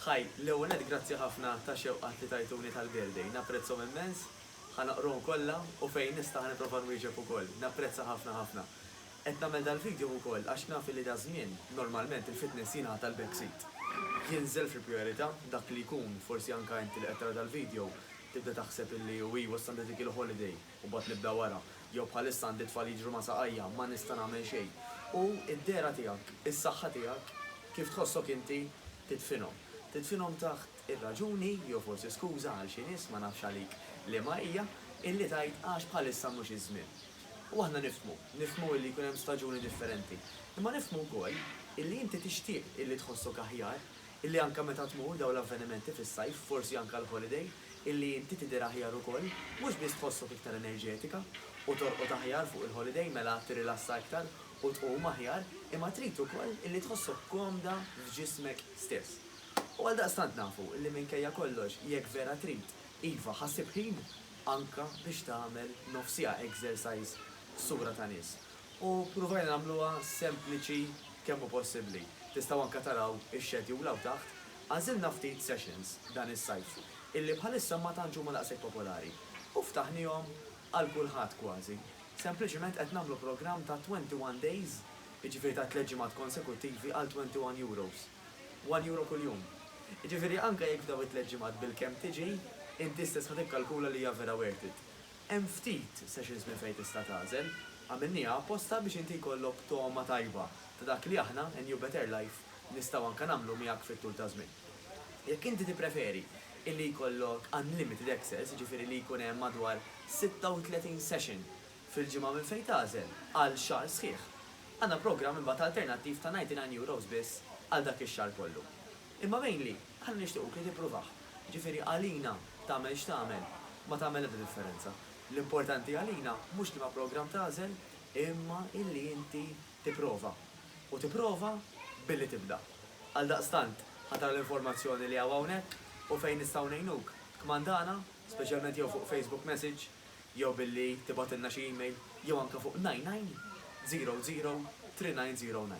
Hi, l-ewwel nett grazzi ħafna tax-xewqat li tajtuni tal-birthday, napprezzhom immens, ħa naqrhom kollha u fejn nista' ħa nipprova nwieġeb ukoll. Napprezza ħafna ħafna. Qed nagħmel dal-video ukoll għax naf li daż-żmien, normalment il-fitness jingħata l-back seat. Jinżel fil-prijorità, dak li jkun, forsi anke inti li qed tara dal-video, tibda taħseb li u iwa issa għandha dik il-holiday. u mbagħad nibda wara, jew bħalissa għandi tfal jiġru ma' saqajja, ma nista' nagħmel xejn. U d-dehra tiegħek, is-saħħa tiegħek, kif tħossok inti, tidfinhom. Tidfinhom taħt ir-raġuni, jew forsi skuża għal xi nies, ma nafx għalik liema hija, illi tgħid għax bħalissa mhux iż-żmien. U aħna nifhmu, nifhmu illi jkun hemm staġuni differenti. Imma nifhmu wkoll illi inti tixtieq illi tħossok aħjar, illi anke meta tmur dawn l-avvenimenti fis-sajf, forsi anke għall-holiday, illi inti tidher aħjar ukoll, mhux biss tħossok iktar enerġetika, u torqod aħjar fuq il-holiday mela tirrilassa iktar u tqum aħjar, imma trid ukoll illi tħossok komda f'ġismek stess. U għaldaqstant nafu illi minkejja kollox jekk vera trid, iva ħa ssib ħin anke biex tagħmel nofsiha exercise f'sura ta' nies. U ppruvajna nagħmluha sempliċi kemm hu possibbli. Tistgħu anke taraw ix-schedule hawn taħt. Għażilna ftit sessions dan is-sajf illi bħalissa ma tantx huma daqshekk popolari u ftaħniehom għal kulħadd kważi. Sempliċiment qed nagħmlu programm ta' twenty one days, jiġifieri ta' tliet ġimgħat konsekuttivi għal twenty one euros. One euro kuljum. Jiġifieri anke jekk f'dawn it-tliet ġimgħat bilkemm tiġi, inti stess ħa tikkalkula li hija vera worth it. Hemm ftit sessions minn fejn tista' tagħżel. Għamilniha apposta biex inti jkollok togħma tajba ta' dak li aħna, A New Better Life, nistgħu anke nagħmlu miegħek fit-tul taż-żmien. Jekk inti tippreferi illi jkollok unlimited access, jiġifieri li jkun hemm madwar 36 session fil-ġimgħa minn fejn tagħżel għal xahar sħiħ, għandna programm imbagħad alternattiv ta' 99 euros biss għal dak ix-xahar kollu. Imma mainly, aħna nixtiequk li tippruvah. Jiġifieri għalina tagħmel x'tagħmel ma tagħmel l-ebda differenza. L-importanti għalina mhux liema programm tagħżel imma illi inti tipprova. U tipprova billi tibda. Għaldaqstant, ħa tara l-informazzjoni li hawn hawnhekk u fejn nistgħu ngħinuk, tkmandana, speċjalment jew fuq Facebook message, jew billi tibgħatilna xi email, jew anke fuq 99 00 3909.